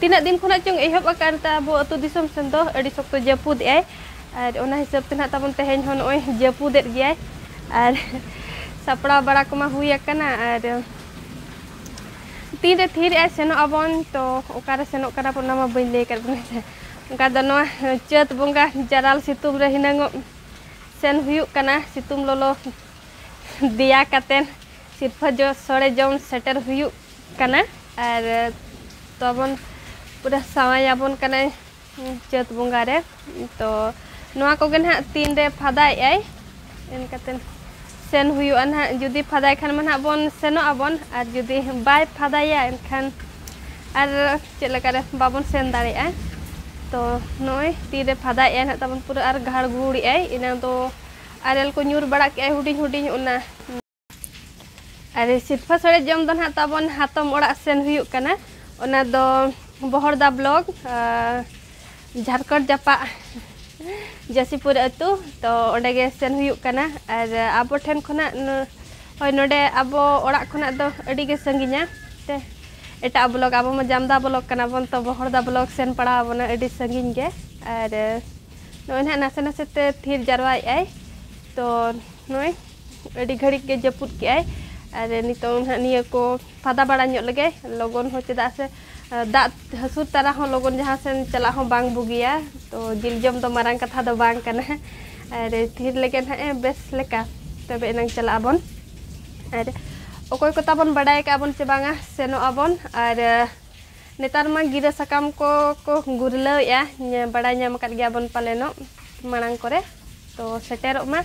ᱛᱤᱱᱟᱹᱜ ᱫᱤᱱ ᱠᱷᱚᱱᱟᱜ ᱪᱚᱝ ᱮᱦᱚᱵ ᱟᱠᱟᱱ ᱛᱟ ᱟᱵᱚ ᱟᱹᱛᱩ ᱫᱤᱥᱚᱢ ᱥᱮᱱ ᱫᱚ ᱟᱹᱰᱤ ᱥᱚᱠᱛᱚ ᱡᱟᱹᱯᱩᱫ ᱮᱜ ᱟᱭ ᱟᱨ ᱚᱱᱟ ᱦᱤᱥᱟᱹᱵ ᱛᱮ ᱱᱟᱜ ᱛᱟᱵᱚᱱ ᱛᱮᱦᱮᱧ ᱦᱚᱸ ᱱᱚᱜᱼᱚᱭ ᱡᱟᱹᱯᱩᱫ ᱮᱫ ᱜᱮᱭᱟᱭ ᱟᱨ ᱥᱟᱯᱲᱟᱣ ᱵᱟᱲᱟ ᱠᱚᱢᱟ ᱦᱩᱭ ᱟᱠᱟᱱᱟ ᱟᱨ ᱛᱤᱱ ᱨᱮ ᱛᱷᱤᱨ ᱮᱜ ᱥᱮᱱᱚᱜ ᱟᱵᱚᱱ ᱛᱚ ᱚᱠᱟᱨᱮ ᱥᱮᱱᱚᱜ ᱠᱟᱱᱟ ᱵᱚᱱ ᱚᱱᱟ ᱢᱟ ᱵᱟᱹᱧ ᱞᱟᱹᱭ ᱟᱠᱟᱫ ᱵᱚᱱᱟ ᱥᱮ ᱚᱱᱠᱟ ᱫᱚ ᱱᱚᱣᱟ ᱪᱟᱹᱛ ᱵᱚᱸᱜᱟ ᱡᱟᱨᱟᱞ ᱥᱤᱛᱩᱝ ᱨᱮ ᱦᱤᱱᱟᱹᱝᱚᱜ ᱥᱮᱱ ᱦᱩᱭᱩᱜ ᱠᱟᱱᱟ ᱥᱤᱛᱩᱝ ᱞᱚᱞᱚ ᱫᱮᱭᱟ ᱠᱟᱛᱮᱱ ᱥᱤᱨᱯᱷᱟᱹ ᱡᱚ ᱥᱚᱲᱮ ᱡᱚᱢ ᱥᱮᱴᱮᱨ ᱦᱩᱭᱩᱜ ᱠᱟᱱᱟ ᱟᱨ ᱛᱚᱵᱚᱱ ᱯᱩᱨᱟᱹ ᱥᱟᱶᱟᱭ ᱟᱵᱚᱱ ᱠᱟᱱᱟᱭ ᱪᱟᱹᱛ ᱵᱚᱸᱜᱟ ᱨᱮ ᱛᱚ ᱱᱚᱣᱟ ᱠᱚᱜᱮ ᱱᱟᱦᱟᱜ ᱛᱤᱱ ᱨᱮ ᱯᱷᱟᱫᱟᱭᱮᱫ ᱟᱭ ᱮᱱᱠᱟᱛᱮ ᱥᱮᱱ ᱦᱩᱭᱩᱜᱼᱟ ᱱᱟᱦᱟᱜ ᱡᱩᱫᱤ ᱯᱷᱟᱫᱟᱭ ᱠᱷᱟᱱ ᱢᱟ ᱱᱟᱦᱟᱜ ᱵᱚᱱ ᱥᱮᱱᱚᱜ ᱟᱵᱚᱱ ᱟᱨ ᱡᱩᱫᱤ ᱵᱟᱭ ᱯᱷᱟᱫᱟᱭᱟ ᱮᱱᱠᱷᱟᱱ ᱟᱨ ᱪᱮᱫ ᱞᱮᱠᱟᱨᱮ ᱵᱟᱵᱚᱱ ᱥᱮᱱ ᱫᱟᱲᱮᱭᱟᱜᱼᱟ ᱛᱚ ᱱᱚᱜᱼᱚᱭ ᱛᱤᱨᱮ ᱯᱷᱟᱫᱟᱭᱮᱫ ᱟᱭ ᱱᱟᱦᱟᱜ ᱛᱟᱵᱚᱱ ᱯᱩᱨᱟᱹ ᱟᱨ ᱜᱷᱟᱲ ᱜᱷᱩᱲᱮᱫ ᱟᱭ ᱮᱱᱟᱝ ᱫᱚ ᱟᱨᱮᱞ ᱠᱚ ᱧᱩᱨ ᱵᱟᱲᱟ ᱠᱮᱫ ᱟᱭ ᱦᱩᱰᱤᱧ ᱦᱩᱰᱤᱧ ᱚᱱᱟ ᱟᱨ ᱥᱤᱨᱯᱷᱟ ᱥᱚᱲᱮ ᱡᱚᱢ ᱫᱚ ᱱᱟᱦᱟᱜ ᱛᱟᱵᱚᱱ ᱦᱟᱛᱚᱢ ᱚᱲᱟᱜ ᱥᱮᱱ ᱦᱩᱭᱩᱜ ᱠᱟᱱᱟ ᱚᱱᱟ ᱫᱚ ᱵᱚᱦᱚᱲᱫᱟ ᱵᱞᱚᱠ ᱡᱷᱟᱨᱠᱷᱚᱸᱰ ᱡᱟᱯᱟᱜ ᱡᱟᱹᱥᱤᱯᱩᱨ ᱟᱹᱛᱩ ᱛᱚ ᱚᱸᱰᱮ ᱜᱮ ᱥᱮᱱ ᱦᱩᱭᱩᱜ ᱠᱟᱱᱟ ᱟᱨ ᱟᱵᱚ ᱴᱷᱮᱱ ᱠᱷᱚᱱᱟᱜ ᱦᱳᱭ ᱱᱚᱰᱮ ᱟᱵᱚ ᱚᱲᱟᱜ ᱠᱷᱚᱱᱟᱜ ᱫᱚ ᱟᱹᱰᱤ ᱜᱮ ᱥᱟᱺᱜᱤᱧᱟ ᱛᱮ ᱮᱴᱟᱜ ᱵᱞᱚᱠ ᱟᱵᱚ ᱢᱟ ᱡᱟᱢᱫᱟ ᱵᱞᱚᱠ ᱠᱟᱱᱟ ᱵᱚᱱ ᱛᱚ ᱵᱚᱦᱚᱲᱫᱟ ᱵᱞᱚᱠ ᱥᱮᱱ ᱯᱟᱲᱟᱣ ᱟᱵᱚᱱᱟ ᱟᱹᱰᱤ ᱥᱟᱺᱜᱤᱧ ᱜᱮ ᱟᱨ ᱱᱚᱜᱼᱚᱭ ᱱᱟᱦᱟᱜ ᱱᱟᱥᱮ ᱱᱟᱥᱮ ᱛᱮ ᱛᱷᱤᱨ ᱡᱟᱨᱣᱟᱭᱮᱫ ᱟᱭ ᱛᱚ ᱱᱚᱜᱼᱚᱭ ᱟᱹᱰᱤ ᱜᱷᱟᱹᱲᱤᱡ ᱜᱮ ᱡᱟᱹᱯᱩᱫ ᱠᱮᱜᱼᱟᱭ ᱟᱨ ᱱᱤᱛᱚᱝ ᱱᱟᱦᱟᱜ ᱱᱤᱭᱟᱹ ᱠᱚ ᱯᱷᱟᱫᱟ ᱵᱟᱲᱟ ᱧᱚᱜ ᱞᱮᱜᱮ ᱞᱚᱜᱚᱱ ᱦᱚᱸ ᱪᱮᱫᱟᱜ ᱥᱮ ᱫᱟᱜ ᱦᱟᱹᱥᱩᱨ ᱛᱟᱨᱟ ᱦᱚᱸ ᱞᱚᱜᱚᱱ ᱡᱟᱦᱟᱸ ᱥᱮᱱ ᱪᱟᱞᱟᱜ ᱦᱚᱸ ᱵᱟᱝ ᱵᱩᱜᱤᱭᱟ ᱛᱚ ᱡᱤᱞ ᱡᱚᱢ ᱫᱚ ᱢᱟᱨᱟᱝ ᱠᱟᱛᱷᱟ ᱫᱚ ᱵᱟᱝ ᱠᱟᱱᱟ ᱟᱨ ᱛᱷᱤᱨ ᱞᱮᱜᱮ ᱱᱟᱦᱟᱜ ᱮ ᱵᱮᱥ ᱞᱮᱠᱟ ᱛᱚᱵᱮ ᱮᱱᱟᱝ ᱪᱟᱞᱟᱜ ᱟᱵᱚᱱ ᱟᱨ ᱚᱠᱚᱭ ᱠᱚ ᱛᱟᱵᱚᱱ ᱵᱟᱰᱟᱭ ᱠᱟᱜᱼᱟ ᱵᱚᱱ ᱥᱮ ᱵᱟᱝᱟ ᱥᱮᱱᱚᱜ ᱟᱵᱚᱱ ᱟᱨ ᱱᱮᱛᱟᱨ ᱢᱟ ᱜᱤᱨᱟᱹ ᱥᱟᱠᱟᱢ ᱠᱚ ᱠᱚ ᱜᱩᱨᱞᱟᱹᱣᱮᱜᱼᱟ ᱵᱟᱲᱟᱭ ᱧᱟᱢ ᱟᱠᱟᱫ ᱜᱮᱭᱟ ᱵᱚᱱ ᱯᱟᱞᱮᱱᱚᱜ ᱢᱟᱲᱟᱝ ᱠᱚᱨᱮ ᱛᱚ ᱥᱮᱴᱮᱨᱚᱜ ᱢᱟ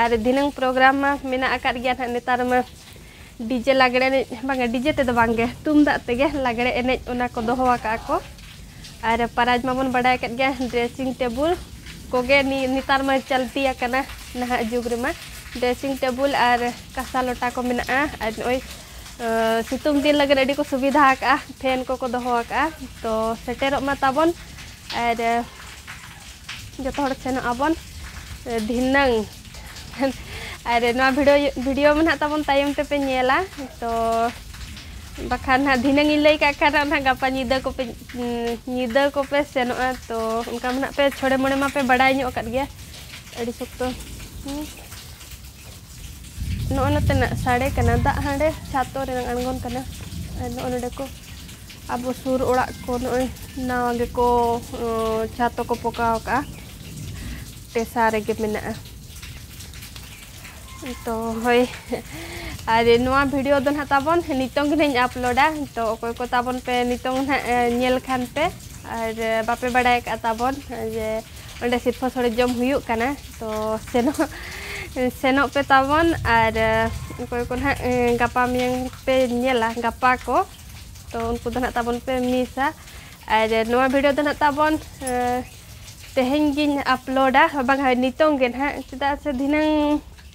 ᱟᱨ ᱫᱷᱤᱱᱟᱹᱝ ᱯᱨᱳᱜᱨᱟᱢ ᱢᱟ ᱢᱮᱱᱟᱜ ᱟᱠᱟᱫ ᱜᱮᱭᱟ ᱱᱟᱦᱟᱜ ᱱᱮᱛᱟᱨ ᱢᱟ ᱰᱤᱡᱮ ᱞᱟᱜᱽᱲᱮ ᱮᱱᱮᱡ ᱵᱟᱝᱟ ᱰᱤᱡᱮ ᱛᱮᱫᱚ ᱵᱟᱝᱜᱮ ᱛᱩᱢᱫᱟᱜ ᱛᱮᱜᱮ ᱞᱟᱜᱽᱲᱮ ᱮᱱᱮᱡ ᱚᱱᱟ ᱠᱚ ᱫᱚᱦᱚ ᱟᱠᱟᱫᱼᱟ ᱠᱚ ᱟᱨ ᱯᱨᱟᱭᱤᱡᱽ ᱢᱟᱵᱚᱱ ᱵᱟᱰᱟᱭ ᱟᱠᱟᱫ ᱜᱮᱭᱟ ᱰᱨᱮᱥᱤᱝ ᱴᱮᱵᱤᱞ ᱠᱚᱜᱮ ᱱᱮᱛᱟᱨ ᱢᱟ ᱪᱚᱞᱛᱤ ᱟᱠᱟᱱᱟ ᱱᱟᱦᱟᱜ ᱡᱩᱜᱽ ᱨᱮᱢᱟ ᱰᱨᱮᱥᱤᱝ ᱴᱮᱵᱤᱞ ᱟᱨ ᱠᱟᱸᱥᱟ ᱞᱚᱴᱟ ᱠᱚ ᱢᱮᱱᱟᱜᱼᱟ ᱟᱨ ᱱᱚᱜᱼᱚᱭ ᱥᱤᱛᱩᱝ ᱫᱤᱱ ᱞᱟᱹᱜᱤᱫ ᱟᱹᱰᱤ ᱠᱚ ᱥᱩᱵᱤᱫᱷᱟ ᱟᱠᱟᱜᱼᱟ ᱯᱷᱮᱱ ᱠᱚᱠᱚ ᱫᱚᱦᱚ ᱟᱠᱟᱜᱼᱟ ᱛᱚ ᱥᱮᱴᱮᱨᱚᱜ ᱢᱟ ᱛᱟᱵᱚᱱ ᱟᱨ ᱡᱚᱛᱚ ᱦᱚᱲ ᱥᱮᱱᱚᱜ ᱟᱵᱚᱱ ᱫᱷᱤᱱᱟᱹᱝ ᱟᱨ ᱱᱚᱣᱟ ᱵᱷᱤᱰᱤᱭᱳ ᱵᱷᱤᱰᱤᱭᱳ ᱢᱟ ᱱᱟᱦᱟᱜ ᱛᱟᱵᱚᱱ ᱛᱟᱭᱚᱢ ᱛᱮᱯᱮ ᱧᱮᱞᱟ ᱛᱚ ᱵᱟᱠᱷᱟᱱ ᱱᱟᱦᱟᱜ ᱫᱷᱤᱱᱟᱹᱝ ᱤᱧ ᱞᱟᱹᱭ ᱠᱟᱜ ᱠᱷᱟᱱ ᱱᱟᱦᱟᱜ ᱜᱟᱯᱟ ᱧᱤᱫᱟᱹ ᱠᱚᱯᱮ ᱧᱤᱫᱟᱹ ᱠᱚᱯᱮ ᱥᱮᱱᱚᱜᱼᱟ ᱛᱚ ᱚᱱᱠᱟ ᱢᱟ ᱱᱟᱦᱟᱜ ᱯᱮ ᱪᱷᱚᱲᱮ ᱢᱚᱬᱮ ᱢᱟᱯᱮ ᱵᱟᱰᱟᱭ ᱧᱚᱜ ᱟᱠᱟᱫ ᱜᱮᱭᱟ ᱟᱹᱰᱤ ᱥᱚᱠᱛᱚ ᱱᱚᱜᱼᱚᱭ ᱱᱚᱛᱮᱱᱟᱜ ᱥᱟᱰᱮ ᱠᱟᱱᱟ ᱫᱟᱜ ᱦᱟᱸᱰᱮ ᱪᱷᱟᱛᱚ ᱨᱮᱱᱟᱜ ᱟᱬᱜᱚᱱ ᱠᱟᱱᱟ ᱟᱨ ᱱᱚᱜᱼᱚᱭ ᱱᱚᱰᱮ ᱠᱚ ᱟᱵᱚ ᱥᱩᱨ ᱚᱲᱟᱜ ᱠᱚ ᱱᱚᱜᱼᱚᱭ ᱱᱟᱣᱟ ᱜᱮᱠᱚ ᱪᱷᱟᱛᱚ ᱠᱚ ᱯᱚᱠᱟᱣ ᱠᱟᱜᱼᱟ ᱴᱮᱥᱟ ᱨᱮᱜᱮ ᱢᱮᱱᱟᱜᱼᱟ ᱛᱚ ᱦᱳᱭ ᱟᱨ ᱱᱚᱣᱟ ᱵᱷᱤᱰᱤᱭᱳ ᱫᱚ ᱱᱟᱦᱟᱜ ᱛᱟᱵᱚᱱ ᱱᱤᱛᱚᱝ ᱜᱮ ᱱᱟᱦᱟᱜ ᱤᱧ ᱟᱯᱞᱳᱰᱟ ᱛᱚ ᱚᱠᱚᱭ ᱠᱚ ᱛᱟᱵᱚᱱ ᱯᱮ ᱱᱤᱛᱚᱝ ᱱᱟᱦᱟᱜ ᱧᱮᱞ ᱠᱷᱟᱱ ᱯᱮ ᱟᱨ ᱵᱟᱯᱮ ᱵᱟᱲᱟᱭ ᱠᱟᱜᱼᱟ ᱛᱟᱵᱚᱱ ᱡᱮ ᱚᱸᱰᱮ ᱥᱤᱨᱯᱷᱟᱹ ᱥᱚᱲᱮ ᱡᱚᱢ ᱦᱩᱭᱩᱜ ᱠᱟᱱᱟ ᱛᱚ ᱥᱮᱱᱚᱜ ᱥᱮᱱᱚᱜ ᱯᱮ ᱛᱟᱵᱚᱱ ᱟᱨ ᱚᱠᱚᱭ ᱠᱚ ᱱᱟᱦᱟᱜ ᱜᱟᱯᱟ ᱢᱮᱭᱟᱝ ᱯᱮ ᱧᱮᱞᱟ ᱜᱟᱯᱟ ᱠᱚ ᱛᱚ ᱩᱱᱠᱩ ᱫᱚ ᱱᱟᱦᱟᱜ ᱛᱟᱵᱚᱱ ᱯᱮ ᱢᱤᱥᱟ ᱟᱨ ᱱᱚᱣᱟ ᱵᱷᱤᱰᱤᱭᱳ ᱫᱚ ᱱᱟᱦᱟᱜ ᱛᱟᱵᱚᱱ ᱛᱮᱦᱮᱧ ᱜᱤᱧ ᱟᱯᱞᱳᱰᱟ ᱵᱟᱝᱟ ᱱᱤᱛᱚᱝ ᱜᱮ ᱱᱟᱦᱟᱜ ᱪᱮᱫᱟᱜ ᱥᱮ ᱫᱷᱤᱱᱟᱹᱝ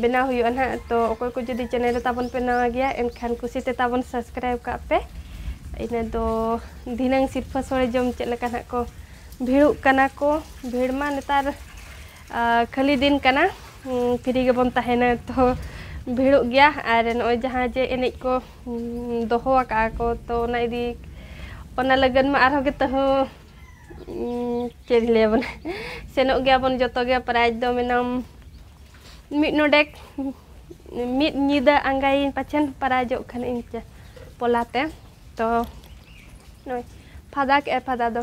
ᱵᱮᱱᱟᱣ ᱦᱩᱭᱩᱜᱼᱟ ᱱᱟᱦᱟᱜ ᱛᱚ ᱚᱠᱚᱭ ᱠᱚ ᱡᱩᱫᱤ ᱪᱮᱱᱮᱞ ᱨᱮ ᱛᱟᱵᱚᱱ ᱯᱮ ᱱᱟᱣᱟ ᱜᱮᱭᱟ ᱮᱱᱠᱷᱟᱱ ᱠᱩᱥᱤ ᱛᱮ ᱛᱟᱵᱚᱱ ᱥᱟᱵᱥᱠᱨᱟᱭᱤᱵᱽ ᱠᱟᱜ ᱯᱮ ᱤᱱᱟᱹ ᱫᱚ ᱫᱷᱤᱱᱟᱹᱝ ᱥᱤᱨᱯᱷᱟᱹ ᱥᱳᱲᱮ ᱡᱚᱢ ᱪᱮᱫ ᱞᱮᱠᱟ ᱱᱟᱦᱟᱜ ᱠᱚ ᱵᱷᱤᱲᱚᱜ ᱠᱟᱱᱟ ᱠᱚ ᱵᱷᱤᱲ ᱢᱟ ᱱᱮᱛᱟᱨ ᱠᱷᱟᱹᱞᱤ ᱫᱤᱱ ᱠᱟᱱᱟ ᱯᱷᱨᱤ ᱜᱮᱵᱚᱱ ᱛᱟᱦᱮᱱᱟ ᱛᱚ ᱵᱷᱤᱲᱚᱜ ᱜᱮᱭᱟ ᱟᱨ ᱱᱚᱜᱼᱚᱭ ᱡᱟᱦᱟᱸ ᱡᱮ ᱮᱱᱮᱡ ᱠᱚ ᱫᱚᱦᱚ ᱟᱠᱟᱫᱼᱟ ᱠᱚ ᱛᱚ ᱚᱱᱟ ᱤᱫᱤ ᱚᱱᱟ ᱞᱟᱹᱜᱤᱫ ᱢᱟ ᱟᱨᱦᱚᱸ ᱜᱮ ᱛᱟᱹᱦᱩ ᱪᱮᱫ ᱤᱧ ᱞᱟᱹᱭᱟ ᱵᱚᱞᱮ ᱥᱮᱱᱚᱜ ᱜᱮᱭᱟ ᱵᱚᱱ ᱡᱚᱛᱚ ᱜᱮ ᱯᱨᱟᱭᱤᱡᱽ ᱫᱚ ᱢᱮᱱᱟᱢ ᱢᱤᱫ ᱰᱚᱸᱰᱮᱠ ᱢᱤᱫ ᱧᱤᱫᱟᱹ ᱟᱸᱜᱟᱭᱟᱹᱧ ᱯᱟᱪᱮᱫ ᱯᱨᱟᱭᱤᱡᱚᱜ ᱠᱷᱟᱱ ᱤᱧ ᱯᱚᱞᱟ ᱛᱮ ᱛᱚ ᱱᱚᱜᱼᱚᱸᱭ ᱯᱷᱟᱫᱟ ᱠᱮᱜᱼᱟᱭ ᱯᱷᱟᱫᱟ ᱫᱚ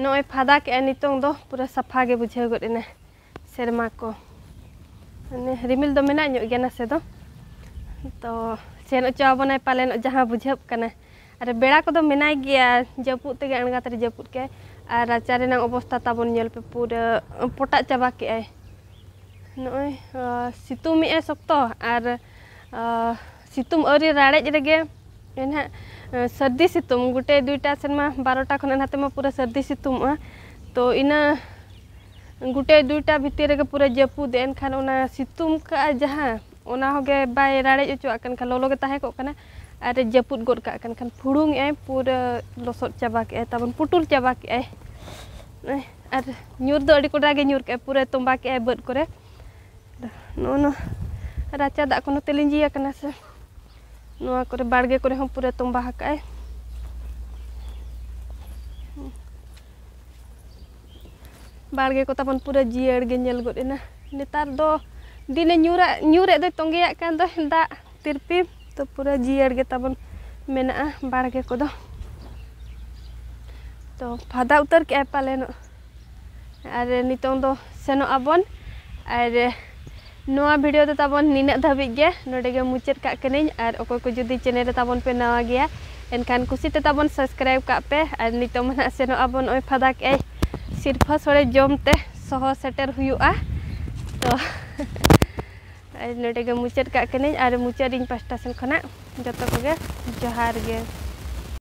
ᱱᱚᱜᱼᱚᱭ ᱯᱷᱟᱫᱟ ᱠᱮᱜᱼᱟ ᱱᱤᱛᱚᱝ ᱫᱚ ᱯᱩᱨᱟᱹ ᱥᱟᱯᱷᱟ ᱜᱮ ᱵᱩᱡᱷᱟᱹᱣ ᱜᱚᱫ ᱮᱱᱟ ᱥᱮᱨᱢᱟ ᱠᱚ ᱢᱟᱱᱮ ᱨᱤᱢᱤᱞ ᱫᱚ ᱢᱮᱱᱟᱜ ᱧᱚᱜ ᱜᱮᱭᱟ ᱱᱟᱥᱮ ᱫᱚ ᱛᱚ ᱥᱮᱱ ᱚᱪᱚ ᱟᱵᱚᱱᱟᱭ ᱯᱟᱞᱮᱱ ᱡᱟᱦᱟᱸ ᱵᱩᱡᱷᱟᱹᱜ ᱠᱟᱱᱟ ᱟᱨ ᱵᱮᱲᱟ ᱠᱚᱫᱚ ᱢᱮᱱᱟᱭ ᱜᱮᱭᱟ ᱡᱟᱹᱯᱩᱫ ᱛᱮᱜᱮ ᱟᱬᱜᱟᱛ ᱨᱮ ᱡᱟᱹᱯᱩᱫ ᱠᱮᱜᱼᱟᱭ ᱟᱨ ᱨᱟᱪᱟ ᱨᱮᱱᱟᱜ ᱚᱵᱚᱥᱛᱟ ᱛᱟᱵᱚᱱ ᱧᱮᱞ ᱯᱮ ᱯᱩᱨᱟᱹ ᱯᱚᱴᱟᱜ ᱪᱟᱵᱟ ᱠᱮᱜᱼᱟᱭ ᱱᱚᱜᱼᱚᱭ ᱥᱤᱛᱩᱝ ᱮᱜᱼᱟᱭ ᱥᱚᱠᱛᱚ ᱟᱨ ᱥᱤᱛᱩᱝ ᱟᱹᱣᱨᱤ ᱨᱟᱲᱮᱡ ᱨᱮᱜᱮ ᱱᱟᱦᱟᱜ ᱥᱟᱹᱨᱫᱤ ᱥᱤᱛᱩᱝ ᱜᱚᱴᱮ ᱫᱩᱭᱴᱟ ᱥᱮᱱᱢᱟ ᱵᱟᱨᱚᱴᱟ ᱠᱷᱚᱱᱟᱜ ᱱᱟᱛᱮ ᱢᱟ ᱯᱩᱨᱟᱹ ᱥᱟᱹᱨᱫᱤ ᱥᱤᱛᱩᱝᱚᱜᱼᱟ ᱛᱚ ᱤᱱᱟᱹ ᱜᱚᱴᱮ ᱫᱩᱭᱴᱟ ᱵᱷᱤᱛᱤᱨ ᱨᱮᱜᱮ ᱯᱩᱨᱟᱹ ᱡᱟᱹᱯᱩᱫ ᱮᱱᱠᱷᱟᱱ ᱚᱱᱟ ᱥᱤᱛᱩᱝ ᱠᱟᱜᱼᱟ ᱡᱟᱦᱟᱸ ᱚᱱᱟ ᱦᱚᱸᱜᱮ ᱵᱟᱭ ᱨᱟᱲᱮᱡ ᱚᱪᱚᱣᱟᱜ ᱠᱟᱱ ᱠᱷᱟᱱ ᱞᱚᱞᱚ ᱜᱮ ᱛᱟᱦᱮᱸ ᱠᱚᱜ ᱠᱟᱱᱟ ᱟᱨ ᱡᱟᱹᱯᱩᱫ ᱜᱚᱫ ᱠᱟᱜ ᱠᱟᱱ ᱠᱷᱟᱱ ᱯᱷᱩᱲᱩᱝ ᱮᱜᱼᱟᱭ ᱯᱩᱨᱟᱹ ᱞᱚᱥᱚᱫ ᱪᱟᱵᱟ ᱠᱮᱜᱼᱟᱭ ᱛᱟᱵᱚᱱ ᱯᱩᱴᱩᱨ ᱪᱟᱵᱟ ᱠᱮᱜᱼᱟᱭ ᱟᱨ ᱧᱩᱨ ᱫᱚ ᱟᱹᱰᱤ ᱠᱚᱰᱨᱟ ᱜᱮ ᱧᱩᱨ ᱠᱮᱜᱼᱟᱭ ᱯᱩᱨᱟᱹ ᱛᱚᱸᱵᱟ ᱠᱮᱜᱼᱟᱭ ᱵᱟᱹᱫᱽ ᱠᱚᱨᱮ ᱱᱚᱜᱼᱚ ᱱᱚᱣᱟ ᱨᱟᱪᱟ ᱫᱟᱜ ᱠᱚ ᱱᱚᱛᱮ ᱞᱤᱸᱡᱤ ᱟᱠᱟᱱᱟ ᱥᱮ ᱱᱚᱣᱟ ᱠᱚᱨᱮ ᱵᱟᱲᱜᱮ ᱠᱚᱨᱮ ᱦᱚᱸ ᱯᱩᱨᱟᱹ ᱛᱚᱸᱵᱟ ᱟᱠᱟᱜᱼᱟᱭ ᱵᱟᱲᱜᱮ ᱠᱚ ᱛᱟᱵᱚᱱ ᱯᱩᱨᱟᱹ ᱡᱤᱭᱟᱹᱲ ᱜᱮ ᱧᱮᱞ ᱜᱚᱫ ᱮᱱᱟ ᱱᱮᱛᱟᱨ ᱫᱚ ᱫᱤᱱᱮ ᱧᱩᱨᱟᱜ ᱧᱩᱨᱮᱫ ᱫᱚᱭ ᱛᱚᱸᱜᱮᱭᱟᱜ ᱠᱟᱱ ᱫᱚ ᱫᱟᱜ ᱛᱤᱨᱯᱤ ᱛᱚ ᱯᱩᱨᱟᱹ ᱡᱤᱭᱟᱹᱲ ᱜᱮ ᱛᱟᱵᱚᱱ ᱢᱮᱱᱟᱜᱼᱟ ᱵᱟᱲᱜᱮ ᱠᱚᱫᱚ ᱛᱚ ᱯᱷᱟᱫᱟ ᱩᱛᱟᱹᱨ ᱠᱮᱜᱼᱟᱭ ᱯᱟᱞᱮᱱᱚᱜ ᱟᱨ ᱱᱤᱛᱚᱝ ᱫᱚ ᱥᱮᱱᱚᱜ ᱟᱵᱚᱱ ᱟᱨ ᱱᱚᱣᱟ ᱵᱷᱤᱰᱤᱭᱳ ᱫᱚ ᱛᱟᱵᱚᱱ ᱱᱤᱱᱟᱹᱜ ᱫᱷᱟᱹᱵᱤᱡ ᱜᱮ ᱱᱚᱰᱮ ᱜᱮ ᱢᱩᱪᱟᱹᱫ ᱠᱟᱜ ᱠᱟᱹᱱᱟᱹᱧ ᱟᱨ ᱚᱠᱚᱭ ᱠᱚ ᱡᱩᱫᱤ ᱪᱮᱱᱮᱞ ᱨᱮ ᱛᱟᱵᱚᱱ ᱯᱮ ᱱᱟᱣᱟ ᱜᱮᱭᱟ ᱮᱱᱠᱷᱟᱱ ᱠᱩᱥᱤ ᱛᱮ ᱛᱟᱵᱚᱱ ᱥᱟᱵᱥᱠᱨᱟᱭᱤᱵ ᱠᱟᱜ ᱯᱮ ᱟᱨ ᱱᱤᱛᱚᱝ ᱢᱟ ᱱᱟᱦᱟᱜ ᱥᱮᱱᱚᱜ ᱟᱵᱚᱱ ᱱᱚᱜᱼᱚᱭ ᱯᱷᱟᱫᱟ ᱠᱮᱜᱼᱟᱭ ᱥᱤᱨᱯᱷᱟᱹ ᱥᱚᱲᱮ ᱡᱚᱢ ᱛᱮ ᱥᱚᱦᱚ ᱥᱮᱴᱮᱨ ᱦᱩᱭᱩᱜᱼᱟ ᱛᱚ ᱟᱨ ᱱᱚᱰᱮ ᱜᱮ ᱢᱩᱪᱟᱹᱫ ᱠᱟᱜ ᱠᱟᱹᱱᱟᱹᱧ ᱟᱨ ᱢᱩᱪᱟᱹᱫ ᱤᱧ ᱯᱟᱥᱴᱟ ᱥᱮᱱ ᱠᱷᱚᱱᱟᱜ ᱡᱚᱛᱚ ᱠᱚᱜᱮ ᱡᱚᱦᱟᱨ ᱜᱮ